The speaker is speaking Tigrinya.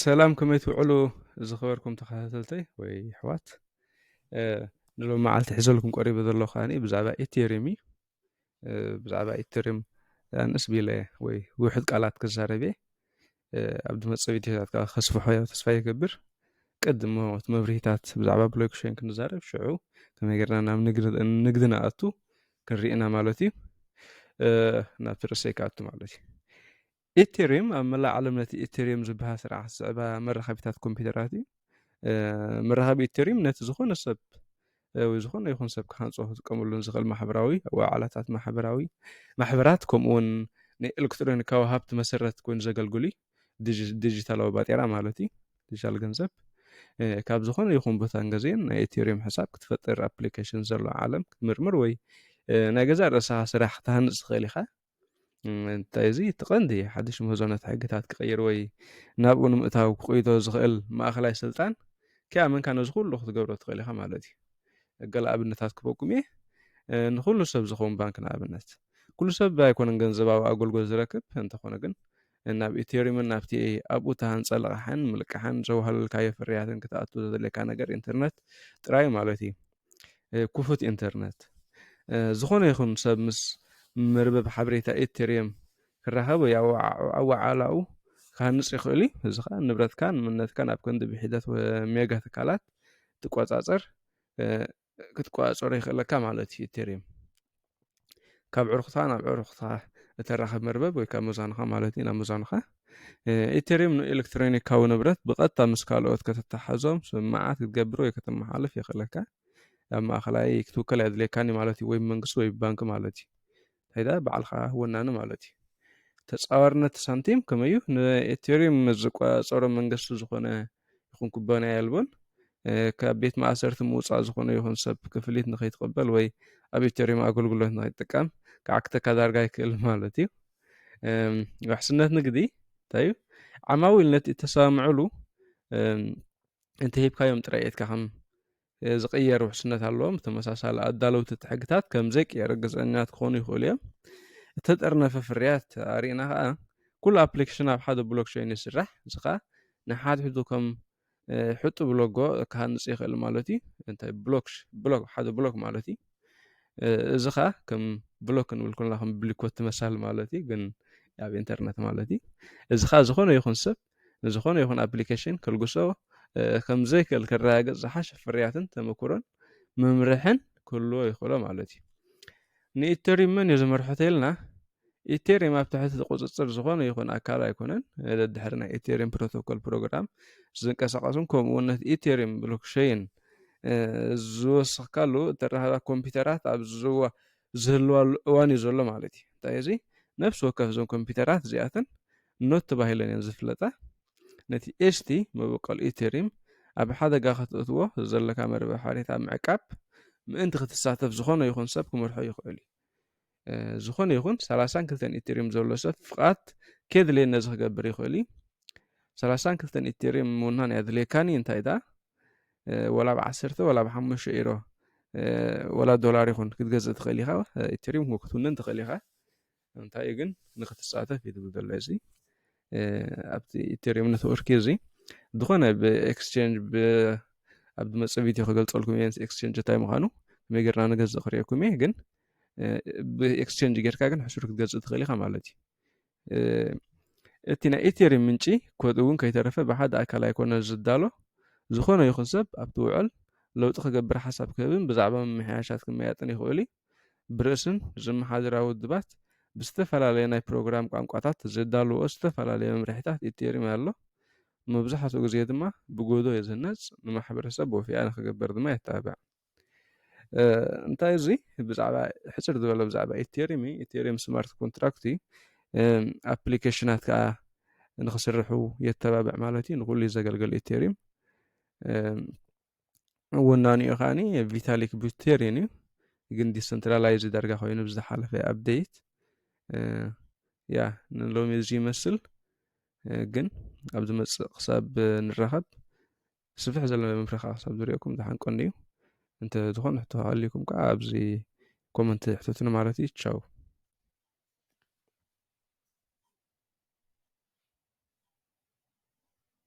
ሰላም ከመይ ትውዕሉ ዝኸበርኩም ተኸታተልተይ ወይ ኣሕዋት ንሎም መዓልቲ ሕዘልኩም ቀሪበ ዘሎ ከዓ ብዛዕባ ኤቴሪም እዩ ብዛዕባ ኤቴሪም ኣንስ ቢለ ወይ ውሕድ ቃላት ክዛረብ እየ ኣብ ድመፀ ቪድዮታት ከዓ ከስፍሖ ያ ተስፋ ይገብር ቅድሞ እቲ መብርሂታት ብዛዕባ ብሎክሸን ክንዛረብ ሽዑ ከመይ ገርና ናብ ንግዲ ንኣቱ ክንሪኢ ኢና ማለት እዩ ናብቲ ርእሰይ ክኣቱ ማለት እዩ ኢቴሪየም ኣብ መላእ ዓለም ነቲ ኢቴሪየም ዝበሃል ስርዓት ዝስዕባ መራኸቢታት ኮምፒውተራት እዩ መራኸቢ ኢቴሪየም ነቲ ዝኾነ ሰብ ወይ ዝኾነ ይኹን ሰብ ክሃንፆ ክጥቀመሉን ዝኽእል ማሕበራዊ ወዓላታት ማሕበራዊ ማሕበራት ከምኡውን ናይ ኤሌክትሮኒካዊ ሃብቲ መሰረት ኮይኑ ዘገልግሉ እዩ ዲጂታላዊ ባጤራ ማለት እዩ ዲጂታል ገንዘብ ካብ ዝኾነ ይኹን ቦታን ገዜን ናይ ኤቴሪየም ሕሳብ ክትፈጥር ኣፕሊኬሽን ዘሎ ዓለም ክትምርምር ወይ ናይ ገዛ ርእስኻ ስራሕ ክትሃንፅ ትኽእል ኢኻ እንታይ እዚ እቲ ቀንዲ ሓድሽ ምህዞነት ሕግታት ክቕይር ወይ ናብኡ ንምእታው ክቕይቶ ዝኽእል ማእኸላይ ስልጣን ከይኣመንካ ነዚ ኩሉ ክትገብሮ ትኽእል ኢኻ ማለት እዩ ገለ ኣብነታት ክበኩም እየ ንኩሉ ሰብ ዝኸውን ባንክ ንኣብነት ኩሉ ሰብ ኣይኮነን ገንዘባዊ ኣገልግሎት ዝረክብ እንተኾነ ግን ናብ ኤቴሪምን ናብቲ ኣብኡ እተሃንጸ ልቓሕን ምልቃሕን ዘዋህለልካዮ ፍርያትን ክትኣቱ ዘድልየካ ነገር ኢንተርነት ጥራይ ማለት እዩ። ክፉት ኢንተርነት። ዝኾነ ይኹን ሰብ ምስ መርበብ ሓበሬታ ኤቴሪየም ክራኸብ ወይ ኣወዓዕላኡ ክሃንጽ ይኽእል እዩ። እዚ ከኣ ንብረትካን መንነትካን ኣብ ክንዲ ብሒደት ሜጋ ትካላት ትቆጻጸር ክትቆፃፀሮ ይኽእለካ ማለት እዩ ኢቴሪየም ካብ ዕሩኽታ ናብ ዕሩኽታ እተራኽብ መርበብ ወይ ካብ መዛኑኻ ማለት እዩ ናብ መዛኑኻ ኢቴሪየም ንኤሌክትሮኒካዊ ንብረት ብቐጥታ ምስ ካልኦት ከተተሓዞም ስምምዓት ክትገብር ወይ ከተመሓልፍ የኽእለካ ኣብ ማእኸላይ ክትውከል ኣድልየካኒ ማለት እዩ ወይ መንግስቲ ወይ ባንኪ ማለት እዩ ታይዳ ባዕልኻ ወናኒ ማለት እዩ። ተጻዋርነት ሳንቲም ከመይ እዩ? ንኤቴሪየም ምስ ዝቆጻጸሮ መንገስቲ ዝኾነ ይኹን ኩባንያ የልቦን። ካብ ቤት ማእሰርቲ ምውጻእ ዝኾነ ይኹን ሰብ ክፍሊት ንኸይትቐበል ወይ ኣብ ኤቴሪየም ኣገልግሎት ንኸይትጥቀም ክዓግተካ ዳርጋ ይክእል ማለት እዩ። ውሕስነት ንግዲ እንታይ እዩ? ዓማዊል ነቲ እተሰማምዕሉ እንተሂብካዮም ጥራይ ኢትካ ከም ዝቕየር ውሕስነት ኣለዎም። ብተመሳሳሊ፣ ኣዳለውቲ እቲ ሕግታት ከም ዘይቅየር ርግጸኛታት ክኾኑ ይኽእሉ እዮም። እተጠርነፈ ፍርያት ኣርኢና ከኣ፣ ኩሉ ኣፕሊኬሽን ኣብ ሓደ ብሎክቸይን ይስራሕ፣ እዚ ከኣ ንሓድሕዱ ከም ሕጡብ ሎጎ ክሃንጽ ይኽእል ማለት እዩ። እንታይ ብሎክ ብሎክ ሓደ ብሎክ ማለት እዩ። እዚ ከኣ ከም ብሎክ ክንብል ኮለና ከም ብሊኮቲ መሳሊ ማለት እዩ፣ ግን ኣብ ኢንተርነት ማለት እዩ። እዚ ከኣ ዝኾነ ይኹን ሰብ ንዝኾነ ይኹን ኣፕሊኬሽን ከልግሶ ከምዘይክእል ክረጋገጽ ዝሓሸ ፍርያትን ተመክሮን መምርሕን ክህልዎ ይኽእሎ ማለት እዩ ንኢተሪም መን እዩ ዝመርሖ ተኢልና ኢቴሪየም ኣብ ትሕቲ ቁፅፅር ዝኾነ ይኹን ኣካል ኣይኮነን ደድሕሪ ናይ ኢቴሪየም ፕሮቶኮል ፕሮግራም ዝንቀሳቀሱን ከምኡ እውን ነቲ ኢቴሪየም ብሎክሸይን ዝወስኽካሉ እተራኸባ ኮምፒውተራት ኣብ ዝዋ ዝህልዋሉ እዋን እዩ ዘሎ ማለት እዩ። እንታይ እዚ ነፍሲ ወከፍ እዞም ኮምፒውተራት እዚኣተን ኖት ተባሂለን እየን ዝፍለጣ። ነቲ ኤስቲ መበቆል ኢቴሪም ኣብ ሓደጋ ከተእትዎ ዘለካ መርበብ ሓሬት ኣብ ምዕቃብ ምእንቲ ክትሳተፍ ዝኾነ ይኹን ሰብ ክመርሖ ይኽእል እዩ። ዝኾነ ይኹን ሰላሳን ክልተን ኢቴሪም ዘሎ ሰብ ፍቓድ ከየድልየኒ ነዚ ክገብር ይኽእል እዩ። ሰላሳን ክልተን ኢቴሪም ምውናን የድልየካኒ እንታይ ደኣ ወላ ብ ዓሰርተ ወላ ብ ሓሙሽተ ኢሮ ወላ ዶላር ይኹን ክትገዝእ ትኽእል ኢኻ ኢትሪም ውን ክትውንን ትኽእል ኢኻ እንታይ እዩ ግን ንክትሳተፍ እዩ ዝብል ዘሎ እዚ ኣብቲ ኢትሪም ነትወርክ እዩ እዚ ዝኾነ ብኤክስቸንጅ ኣብ ዝመፅ ቪድዮ ክገልፀልኩም እየ ኤክስቸንጅ እንታይ ምዃኑ ከመይ ጌርና ንገዝእ ክርእየኩም እየ ግን ብኤክስቸንጅ ጌርካ ግን ሕሱር ክትገዝእ ትኽእል ኢኻ ማለት እዩ እቲ ናይ ኢቴሪም ምንጪ ኮድ እውን ከይተረፈ ብሓደ ኣካል ኣይኮነን ዝዳሎ። ዝኾነ ይኹን ሰብ ኣብቲ ውዕል ለውጢ ክገብር ሓሳብ ክህብን ብዛዕባ ምምሕያሻት ክመያጥን ይኽእል'ዩ። ብርእስን ዝመሓደራ ውድባት ብዝተፈላለየ ናይ ፕሮግራም ቋንቋታት ዘዳልውኦ ዝተፈላለየ መምርሒታት ኢቴሪም ኣሎ። መብዛሕትኡ ግዜ ድማ ብጎዶ ዝህነጽ ንማሕበረሰብ ወፊያ ንክገብር ድማ የተባብዕ። እንታይ እዚ ብዛዕባ ሕፅር ዝበለ ብዛዕባ ኢቴሪም እዩ ኢቴሪም ስማርት ኮንትራክት እዩ ኣፕሊኬሽናት ከዓ ንክስርሑ የተባብዕ ማለት እዩ ንኩሉ እዩ ዘገልግል ኢቴሪም ወናኒኡ ከዓኒ ቪታሊክ ቡቴሪን እዩ ግን ዲሰንትራላይዝ ዳርጋ ኮይኑ ብዝሓለፈ ኣብደይት ያ ንሎሚ እዚ ይመስል ግን ኣብ ዝመፅእ ክሳብ ንራኸብ ስፍሕ ዘለ መምርሒ ከዓ ክሳብ ዝሪኦኩም ዝሓንቀኒ እዩ እንተ ዝኾነ ሕቶ ሃልዩኩም ከዓ ኣብዚ ኮመንት ሕተቱኒ ማለት እዩ ቻው